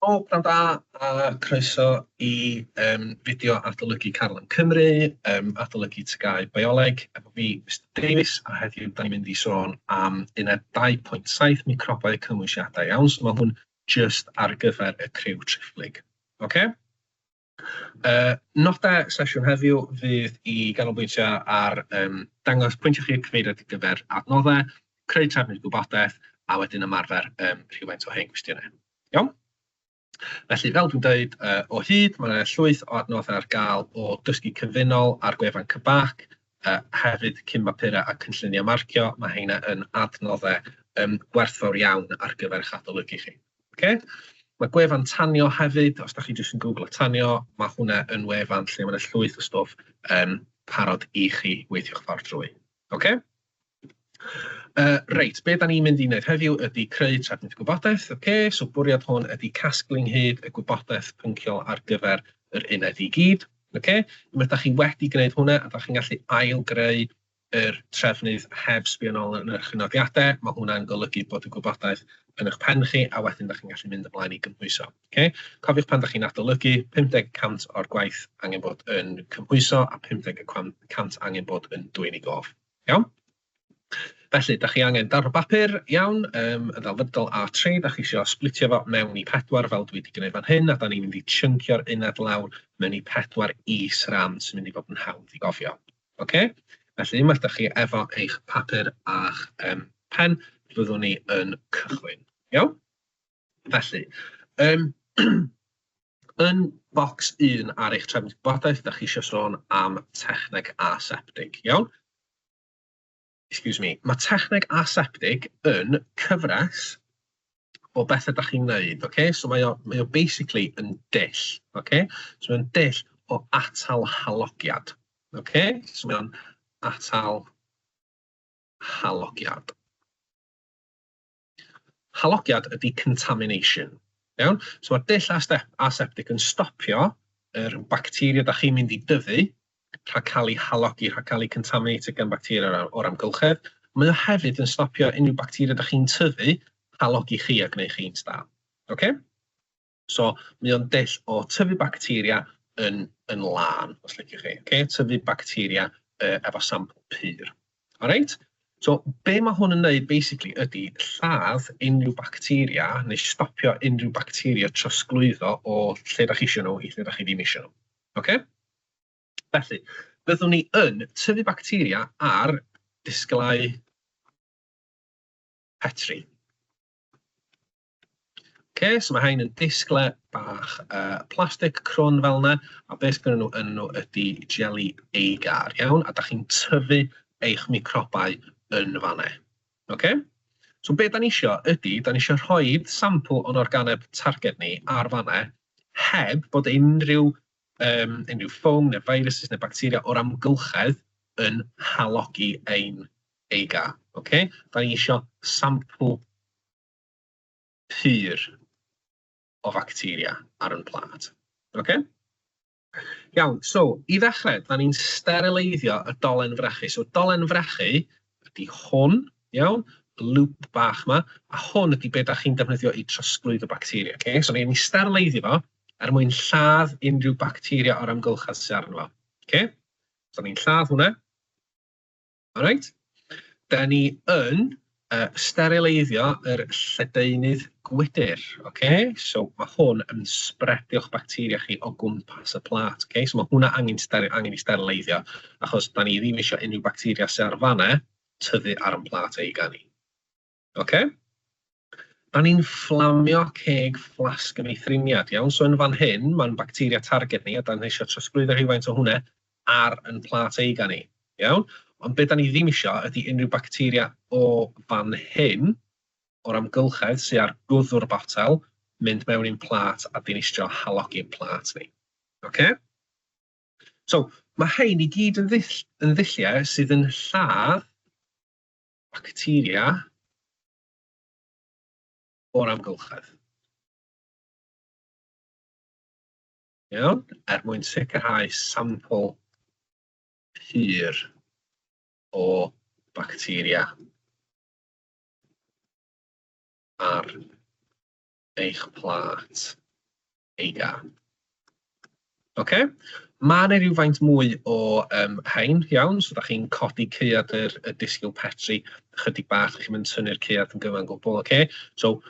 O, pnawn da a croeso i um, fideo adolygu Carlan Cymru, um, adolygu tygau bioleg, efo fi, Mr Davies, a heddiw da ni'n mynd i sôn am uned 2.7 microbau cymwysiadau iawn, so mae hwn just ar gyfer y criw triphlyg. Okay? Uh, nodau sesiwn heddiw fydd i ganolbwyntio ar um, dangos pwyntiau chi'r cyfeiriad ar gyfer adnoddau, creu trefnydd gwybodaeth, a wedyn ymarfer um, rhywfaint o hen gwestiynau. Iawn? Felly, fel dwi'n dweud, uh, o hyd, mae yna llwyth o adnoddau ar gael o dysgu cyfunol ar gwefan Cybac, A hefyd cyn mapura a cynlluniau marcio, mae heina yn adnoddau yym gwerthfawr iawn ar gyfer eich adolygu chi. Ocê? Mae gwefan Tanio hefyd, os dach chi jyst yn gwglo Tanio, mae hwnna yn wefan lle mae 'na llwyth o stwff yym parod i chi weithio'ch ffordd drwy. Ocê? Yy reit, be dan ni'n mynd i wneud heddiw ydy creu trefnith gwybodaeth, ocê, so bwriad hwn ydy casglu ynghyd y gwybodaeth pynciol ar gyfer yr uned i gyd, ocê. Unwaith dach chi wedi gwneud hwnna a dach chi'n gallu ail-greu yr trefnydd heb sbio nôl yn eich nodiadau, ma' hwnna'n golygu bod y gwybodaeth yn eich pen chi a wedyn dach chi'n gallu mynd ymlaen i gymhwyso, ocê. Cofiwch pan dach chi'n adolygu, 50 y cant o'r gwaith angen bod yn cymhwyso a 50 y cant angen bod yn dwyn i gof. Iawn, felly dach chi angen darn o bapur, iawn, yym yn ddelfrydol A3, dach chi isio splitio fo mewn i pedwar fel dwi wedi gwneud fan hyn, a dan ni'n mynd i chynkio'r uned lawr mewn i pedwar is-ran sy'n mynd i fod yn hawdd i gofio. Ocê, felly unwaith dach chi efo eich papur a'ch yym pen, byddwn ni yn cychwyn. Iawn? Felly, yn yn bocs un ar eich trefn gwybodaeth, dach chi eisiau sôn am techneg aseptig, iawn? Excuse me. Mae techneg aseptig yn cyfres o bethau dach chi'n wneud, okay? So mae o, mae o basically yn dull, okay? So mae'n dull o atal halogiad, okay? So mae'n atal halogiad. Halogiad ydy contamination. Iawn? So mae'r dull aseptig yn stopio yr bacteria da chi'n mynd i dyfu rhag cael ei halogi, rhag cael ei contaminated gan bacteria o'r amgylchedd. Mae o hefyd yn stopio unrhyw bacteria da chi'n tyfu halogi chi a gwneud chi'n staff. Okay? So mae o'n dull o tyfu bacteria yn, yn lân, os liciwch chi. Okay? Tyfu bacteria uh, efo sampl pur. Alright? So, be mae hwn yn neud, basically, ydy lladd unrhyw bacteria neu stopio unrhyw bacteria trosglwyddo o lle da chi eisiau nhw i lle da chi ddim eisiau nhw. Okay? Felly, byddwn ni yn tyfu bacteria ar disglau petri. Ocê, so mae rhain yn disglau bach uh, plastig crwn fel yna, a beth sydd nhw yn nhw ydy jelly agar, iawn, a da chi'n tyfu eich microbau yn fanna. Ocê? So beth da ni eisiau ydy, da ni eisiau rhoi sampl o'n organeb targed ni ar fanna, heb bod unrhyw, um, unrhyw ffwng neu virus neu bacteria o'r amgylchedd yn halogi ein eiga. Okay? Da ni eisiau sampl pur o facteria ar ein plât. Ocê? Iawn, so i ddechrau, da ni'n sterileiddio y dolen frechu. So dolen frechu ydy hwn, iawn, y lŵp bach yma, a hwn ydy beth da chi'n defnyddio i trosglwyd y bacteria. Okay? So ni'n sterileiddio fo er mwyn lladd unrhyw bacteria o'r amgylchedd sydd arno fo. Okay? So ni'n lladd hwnna. Alright, da ni yn uh, sterileiddio yr lledaenydd gwydr. Okay? So mae hwn yn sbredio'ch bacteria chi o gwmpas y plat. Okay? So mae hwnna angen, angen i sterileiddio, achos da ni ddim eisiau unrhyw bacteria sy'n ar fanna tyfu ar yn plat ei gan i. Ok a ni'n fflamio ceg fflasg yn ei thriniad, iawn? So yn fan hyn, mae'n bacteria targed ni, a da ni eisiau trosglwyddo rhywfaint o hwnna ar yn plat eiga ni, iawn? Ond beth da ni ddim eisiau ydy unrhyw bacteria o fan hyn, o'r amgylchedd sy'n ar gwddw'r botel, mynd mewn i'n plat a dinistrio halogi'n plat ni. Ok? So, mae hein i gyd yn, ddull, yn ddulliau sydd yn lladd bacteria o'r amgylchedd. Iawn, er mwyn sicrhau sampl pur o bacteria ar eich plat, ei gân. Ocê, ma' 'na rywfaint mwy o yym rhain, iawn, so dach chi'n codi caead yr y disgyl Petri ychydig bach, dach chi'm yn tynnu'r caead yn gyfan gwbl, ocê. So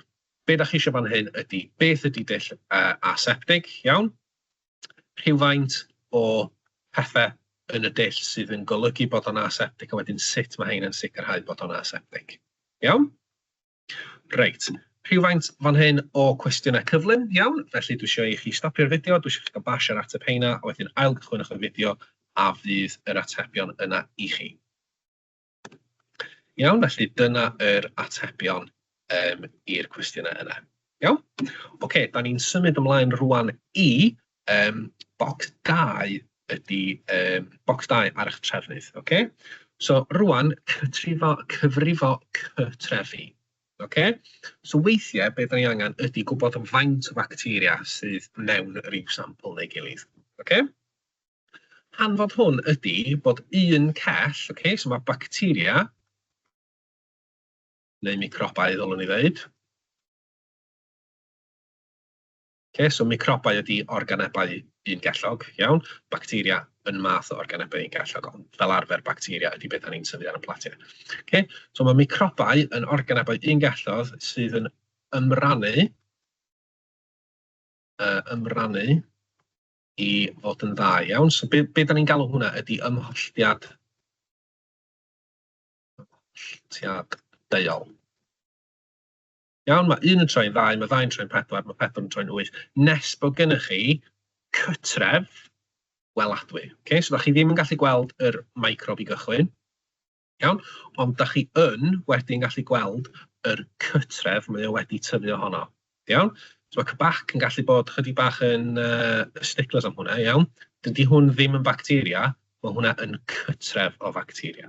be' dach chi isio fan hyn ydi beth ydi dull yy aseptig, iawn, rhywfaint o pethe yn y dull sydd yn golygu bod o'n aseptig a wedyn sut ma' rhein yn sicrhau bod o'n aseptig, iawn? Reit, rhywfaint fan hyn o cwestiynau cyflym, iawn. Felly dwi eisiau i chi stopio'r fideo, dwi eisiau chi gael bash ar ateb heina, a wedyn ail gychwynwch y fideo a fydd yr atebion yna i chi. Iawn, felly dyna yr atebion um, i'r cwestiynau yna. Iawn? Oce, okay, da ni'n symud ymlaen rwan i Yym bocs dau ydy yym bocs dau ar eich trefnydd ocê so rŵan cythrifo cyfrifo cytrefi ocê so weithiau be dan ni angen ydy gwybod faint o facteria sydd mewn ryw sampl neu gilydd ocê hanfod hwn ydy bod un cell ocê so mae bacteria neu microbau ddylwn i ddeud Okay, so microbau ydy organebau un gellog, iawn. Bacteria yn math o organebau un gellog, ond fel arfer bacteria ydy beth ni'n tyfu ar y platiau. Okay? So mae microbau yn organebau un gellog sydd yn ymrannu, uh, ymrannu i fod yn dda iawn. So be, be da ni'n galw hwnna ydy ymholltiad, ymholltiad deuol. Iawn, mae un yn troi'n ddau, mae ddau'n troi'n pedwar, mae pedwar yn troi'n wyth. Nes bod gennych chi cytref weladwy. Okay? So, da chi ddim yn gallu gweld yr microb i gychwyn. Iawn? Ond da chi yn wedyn gallu gweld yr cytref mae o wedi tyfu ohono. Iawn? So, mae cybac yn gallu bod chydig bach yn uh, sticklers am hwnna, iawn? Dydy hwn ddim yn bacteria, mae hwnna yn cytref o facteria.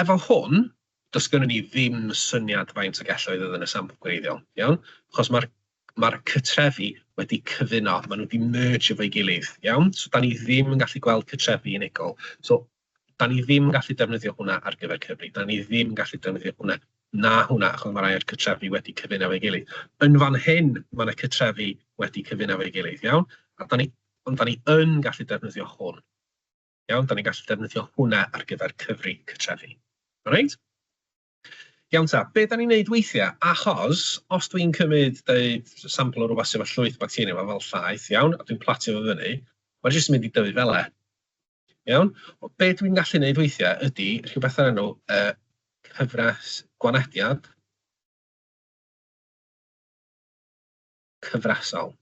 Efo hwn, does gynnon ni ddim syniad faint o gelloedd oedd yn y sampl gwreiddiol, iawn, achos ma'r ma'r cytrefi wedi cyfuno, maen nhw wedi merge efo'i gilydd, iawn? So 'dan ni ddim yn gallu gweld cytrefi unigol. So 'dan ni ddim yn gallu defnyddio hwnna ar gyfer Cymru, 'dan ni ddim yn gallu defnyddio hwnna na hwnna, achos ma' rai o'r cytrefi wedi cyfuno efo'i gilydd. Yn fan hyn, ma' 'na cytrefi wedi cyfuno efo'i gilydd, iawn? A 'dan ni... ond 'dan ni yn gallu defnyddio hwn. Iawn, dan ni'n gallu defnyddio hwnna ar gyfer cyfri cytrefi. Reit? Iawn ta, be dan ni'n neud weithiau? Achos os dwi'n cymryd deud sampl o rhywbeth sydd efo llwyth bacteria yma fel llaeth, iawn, a dwi'n platio fo fyny, mae jyst yn mynd i dyfu fel e. Iawn? O, be dwi'n gallu neud weithiau ydy rhywbeth ar enw uh, cyfres gwanediad cyfresol.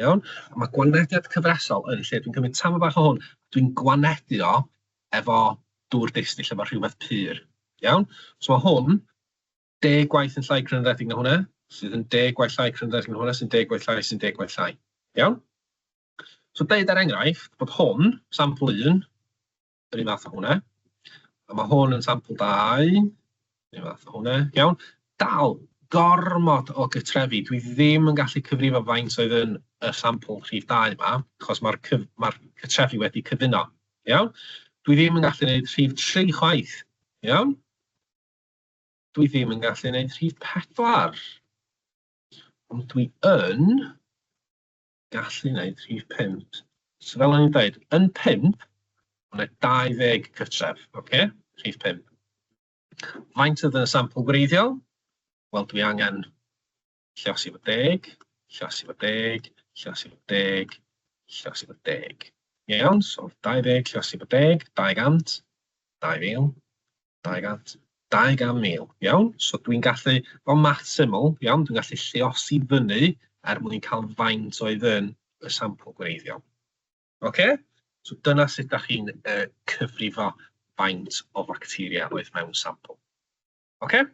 Iawn? A ma' gwanediad cyfresol yn lle dwi'n cymryd tamaid bach o hwn, dwi'n gwanedu o efo dŵr distyll, efo rhywbeth pur. Iawn? So mae hwn deg gwaith yn llai crynodedig na hwnna, sydd yn deg gwaith llai crynodedig na hwnna, sy'n deg gwaith llai, sy'n deg gwaith llai. Iawn? So deud ar er enghraifft bod hwn, sampl un, yr un fath â hwnna. A mae hwn yn sampl dau, yr un fath â hwnna, iawn. Dal, gormod o gytrefi. Dwi ddim yn gallu cyfrifo faint oedd yn y sampl rhif dau yma, achos mae'r cyf... mae cytrefi wedi cyfuno, iawn. Dwi ddim yn gallu gwneud rhif tri chwaith, iawn. Dwi ddim yn gallu gwneud rhif pedwar. Ond dwi yn gallu wneud rhif pump. So fel o'n i'n dweud, yn pump, mae 20 cytref, okay? rhif pump. Faint oedd yn y sampl gwreiddiol? Wel, dwi angen llos i fod deg, llos i fod deg, llos i fod deg, llos i fod deg. Iawn, so 20 llos i fod deg, 200, 2000. 200, 200,000, iawn? So dwi'n gallu, fel math syml, iawn, dwi'n gallu lliosi fyny er mwyn cael faint oedd yn y sampl gwreiddiol. Oce? Okay? So dyna sut da chi'n uh, cyfrifo faint o facteria oedd mewn sampl. Oce? Okay?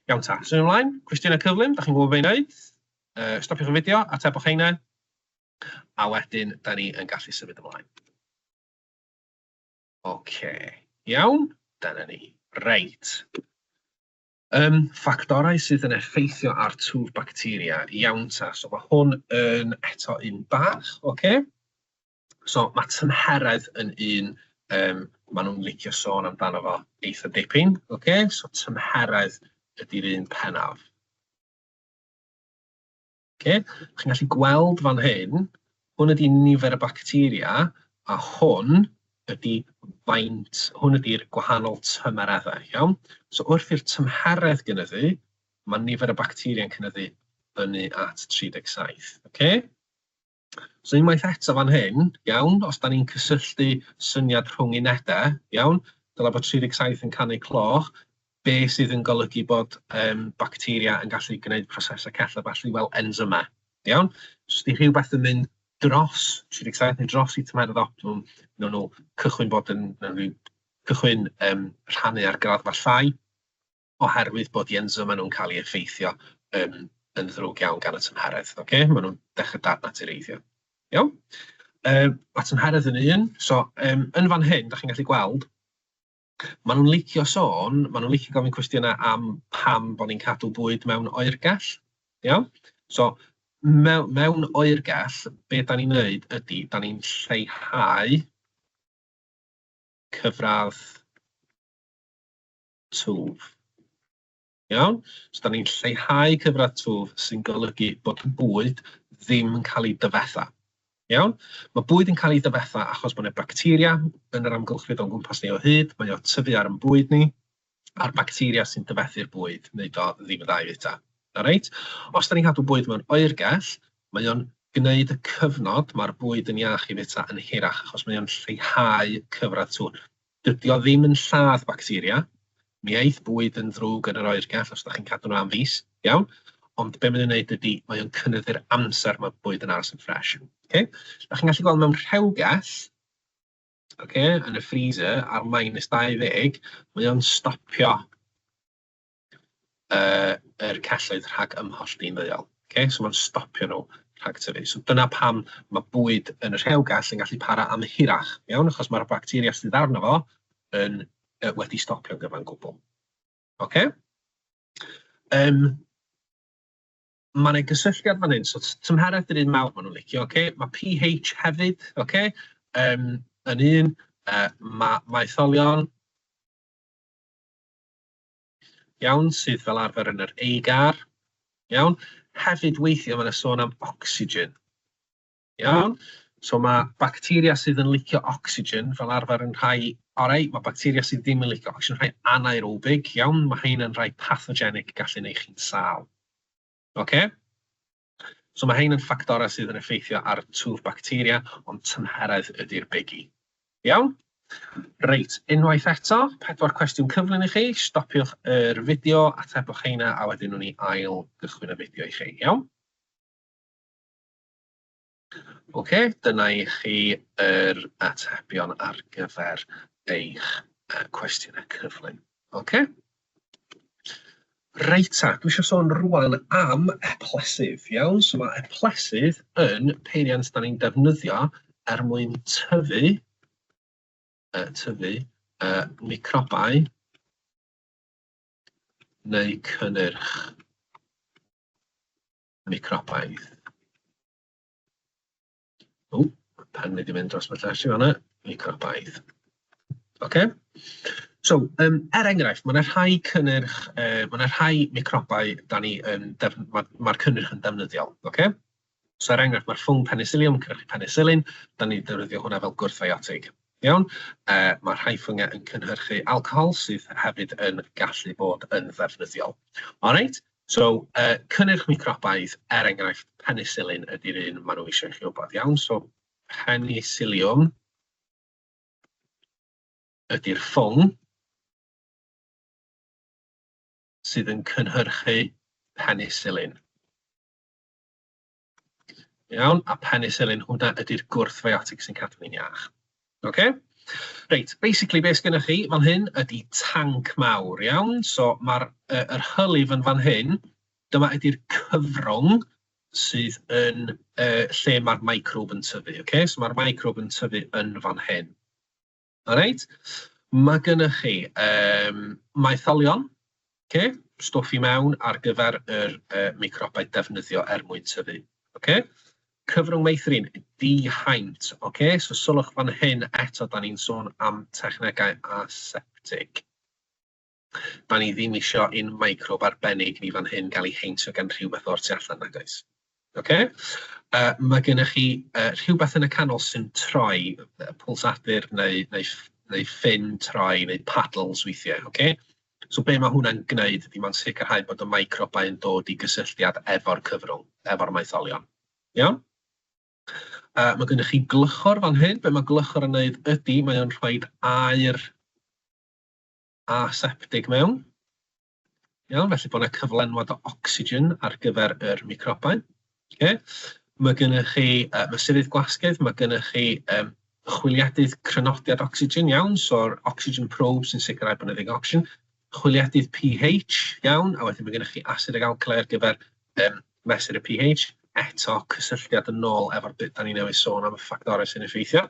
Iawn ta, sy'n ymlaen, cwestiynau cyflym, da chi'n gwybod fe wneud? Uh, stopiwch y fideo, atebwch heina, a wedyn da ni yn gallu symud ymlaen. Oce, iawn, dyna ni. Reit. Um, ffactorau sydd yn effeithio ar twf bacteria. Iawn ta, so mae hwn yn eto un bach, oce? So mae tymheredd yn un, um, maen nhw'n licio sôn amdano fo eitha dipyn, oce? So tymheredd ydy'r un penaf. Ocê, chi'n gallu gweld fan hyn, hwn ydy nifer y bacteria, a hwn ydy faint, hwn ydy'r gwahanol tymereddau, iawn? So wrth i'r tymheredd gynyddu, mae nifer y bacteria'n cynyddu fyny at 37, ocê? So unwaith eto fan hyn, iawn, os da ni'n cysylltu syniad rhwng unedau, iawn, dyla bod 37 yn canu cloch, be sydd yn golygu bod um, bacteria yn gallu gwneud prosesau cella falle fel enzymau, iawn? Os di rhywbeth yn mynd dros 37 neu dros i tymeredd optimum, nhw'n nhw cychwyn bod yn, nhw'n cychwyn um, rhannu ar graddfa llai, oherwydd bod yen so maen nhw'n cael eu effeithio yn yn ddrwg iawn gan y tymheredd. Ocê, maen nhw'n dechrau dadnatureiddio. Iawn? Yym ma' tymheredd yn un, so yym yn fan hyn, dach chi'n gallu gweld, maen nhw'n licio sôn, maen nhw'n licio gofyn cwestiynau am pam bod ni'n cadw bwyd mewn oergell. Iawn? So mew- mewn oergell, be da ni'n wneud ydy, da ni'n lleihau cyfradd twf. Iawn? So, da ni'n lleihau cyfradd twf sy'n golygu bod bwyd ddim yn cael ei dyfetha. Iawn? Mae bwyd yn cael ei dyfetha achos bod yna bacteria yn yr amgylchfyd o'n gwmpas ni o hyd, mae o tyfu ar yn bwyd ni, a'r bacteria sy'n dyfethu'r bwyd, neu do ddim yn dda i fwyta. Alright? Os da ni'n cadw bwyd mewn oergell, mae o'n gwneud y cyfnod mae'r bwyd yn iach i fwyta yn hirach, achos mae o'n lleihau cyfradd twf. Dydi o ddim yn lladd bacteria. Mi aeth bwyd yn ddrwg yn yr oergell os ydych chi'n cadw nhw am fis, iawn? Ond be mae'n ei wneud ydy, mae o'n cynyddu'r amser mae bwyd yn aros yn ffres. Okay? Da chi'n gallu gweld mewn rhewgell, okay, yn y freezer ar minus 20, mae o'n stopio uh, yr celloedd rhag ymholl di'n ddeuol. Okay? So mae'n stopio nhw rhag tyfu. So dyna pam mae bwyd yn y rhewgell yn gallu para am hirach, iawn, achos mae'r bacteria sydd arno fo yn uh, wedi stopio gyfa'n gwbl. Okay? Um, mae yna gysylltiad fan hyn, so tymheredd dyn ni'n mawr maen nhw'n licio, okay? mae pH hefyd, okay? um, yn un, uh, mae maetholion, Iawn, sydd fel arfer yn yr AGAR. Iawn. Hefyd weithiau mae'n sôn am oxygen. Iawn. So mae bacteria sydd yn licio oxygen fel arfer yn rhai orau, mae bacteria sydd ddim yn licio oxygen, rhai anaerobig, iawn, mae hyn yn rhai pathogenic gallu neu chi'n sal. Oce? Okay? So mae hein yn ffactorau sydd yn effeithio ar twf bacteria, ond tymheredd ydy'r bigi. Iawn? Reit, unwaith eto, pedwar cwestiwn cyflym i chi, stopiwch yr fideo, atebwch heina, a wedyn nhw'n i ail gychwyn y fideo i chi, iawn? Ok, dyna i chi yr atebion ar gyfer eich cwestiynau cyflym. Ok? Reit ta, dwi eisiau sôn rwan am eplesydd, iawn? So mae eplesydd yn peiriant da ni'n defnyddio er mwyn tyfu, uh, tyfu uh, microbau neu cynnyrch Neu cropaidd. O, ma' pen wedi mynd dros fy llais i fan'na. Neu cropaidd. OK? So, yym, er enghraifft, ma' 'na rhai cynnyrch, yy, ma' 'na rhai microbau 'dan ni yn def-... ma' ma'r cynnyrch yn defnyddiol, OK? So er enghraifft, ma'r ffwng penicillium, cynhyrchu penisilin, 'dan ni'n defnyddio hwnna fel gwrthfiotig, iawn? Yy, ma' rhai ffyngiau yn cynhyrchu alcohol sydd hefyd yn gallu bod yn ddefnyddiol. All right? So, yy, cynnyrch microbaidd, er enghraifft, penisilin ydy'r un maen nhw eisiau i chi wybod, iawn? So, penisiliwm ydy'r ffwng sydd yn cynhyrchu penisilin. Iawn, a penicillin, hwnna ydy'r gwrthfiotic sy'n cadw ni'n iach. Okay? Reit, basically beth sgynna chi fan hyn ydy tanc mawr, iawn? So mae'r uh, yr hylif yn fan hyn, dyma ydy'r cyfrwng sydd yn uh, lle mae'r microb yn tyfu, okay? So mae'r microb yn tyfu yn fan hyn. Reit, mae gennych chi yym maetholion, ocê, stwff i mewn ar gyfer yr yy microbau defnyddio er mwyn tyfu, ocê. Cyfrwng meithrin, dihaint, ocê, so sylwch fan hyn eto, da ni'n sôn am technegau aseptig. Da ni ddim isio un microbe arbennig ni fan hyn gael ei heintio gan rhywbeth o'r tu allan nag oes. Okay? Uh, mae gennych chi uh, rhywbeth yn y canol sy'n troi, uh, pulsadur neu, neu, neu ffin troi neu paddles weithiau. Okay? So be mae hwnna'n gwneud ydy mae'n sicrhau bod y microbau yn dod i gysylltiad efo'r cyfrwng, efo'r maetholion. Iawn? Uh, mae gennych chi glychor fan hyn. Be mae glychor yn gwneud ydy mae'n rhoi air a septig mewn. Iawn, felly bod yna cyflenwad o ocsigen ar gyfer yr microbau. Okay. Mae gennych chi uh, mesurydd gwasgydd, mae gennych chi um, chwiliadydd crynodiad ocsigen, iawn, so'r oxygen probe sy'n sicrhau bod yna ddigon ocsigen, chwiliadydd pH, iawn, a wedyn mae gennych chi asid ag alcali ar gyfer um, mesur y pH, eto cysylltiad yn ôl efo'r byd da ni newydd sôn am y ffactorau sy'n effeithio.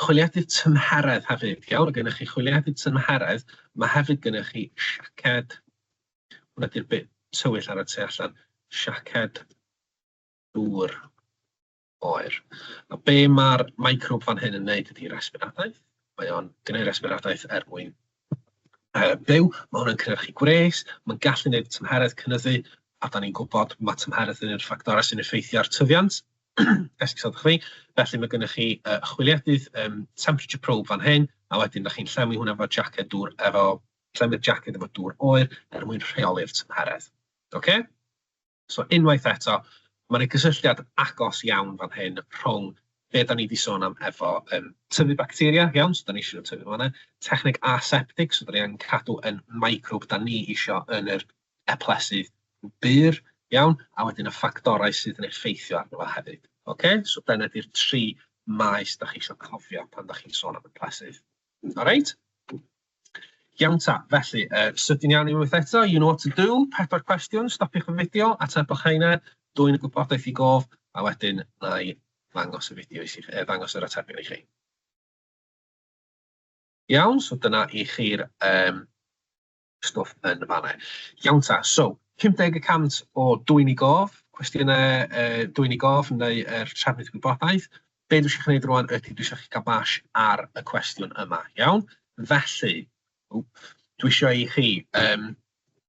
Chwiliadwy tymheredd hefyd, iawn? Mae gennych chi chwiliadwy tymheredd, mae hefyd gennych chi siaced. Hwna ydy'r bit tywyll ar y tu allan. Siaced dŵr oer. A be mae'r microbe fan hyn yn wneud ydy resbiradaeth. Mae o'n gwneud resbiradaeth er mwyn byw, mae hwn yn cynhyrchu gwres, mae'n gallu gwneud tymheredd cynyddu, a dan ni'n gwybod ma' tymheredd yn un o'r ffactorau sy'n effeithio ar tyfiant, esgusodwch fi, felly mae gennych chi yy chwiliedydd yym temperature probe fan hyn, a wedyn dach chi'n llenwi hwnna efo jacked dŵr efo llenwi'r jacked efo dŵr oer er mwyn rheoli'r tymheredd. Ocê? So unwaith eto, mae 'na gysylltiad agos iawn fan hyn rhwng be da ni 'di sôn am efo yym tyfu bacteria, iawn, so da ni isio nhw tyfu fan'na, techneg aseptig, so da ni angen cadw yn microwb da ni isio yn yr eplesydd bur, iawn, a wedyn y ffactorau sydd yn effeithio arno fo hefyd. Ocê, so dyna 'di'r tri maes da chi isio cofio pan da chi'n sôn am eplesydd. Alright? Iawn ta, felly, uh, sydyn iawn i wyth eto, you know what to do, pedwar cwestiwn, stopiwch y fideo, atebwch heina, dwy'n y gwybodaeth i gof, a wedyn na i ddangos y fideo i chi, eh, ddangos yr atebion i chi. Iawn, so dyna i chi'r um, stwff yn fanna. Iawn ta, so, 50 y cant o dwy'n i gof, cwestiynau uh, dwy'n i gof neu er trefnydd gwybodaeth, Be dwi isio chi wneud rwan ydy dwi isio chi gael bash ar y cwestiwn yma, iawn? Felly, ww, dwi isio i chi um,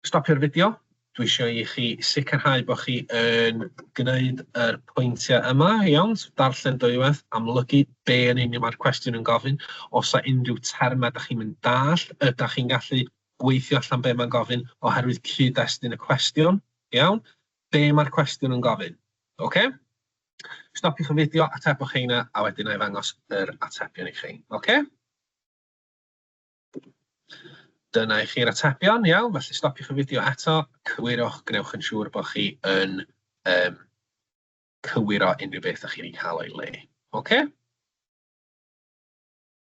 stopio'r fideo, dwi isio i chi sicrhau bod chi yn gwneud yr pwyntiau yma, iawn? So, darllen dwywaith, amlygu be yn union mae'r cwestiwn yn gofyn. Os yna unrhyw termau da chi'n mynd dall, ydych chi'n gallu gweithio allan be mae'n gofyn oherwydd cyd-destun y cwestiwn, iawn? Be mae'r cwestiwn yn gofyn, oce? Okay? Stopiwch y fideo, atebwch heina, a wedyn na i ddangos yr atebion i chi. Oce? Dyna i chi'r atebion, iawn, felly stopiwch y fideo eto, cywirwch, gwnewch yn siŵr bod chi yn um, cywiro unrhyw beth ydych chi'n ei cael o'i le. Oce?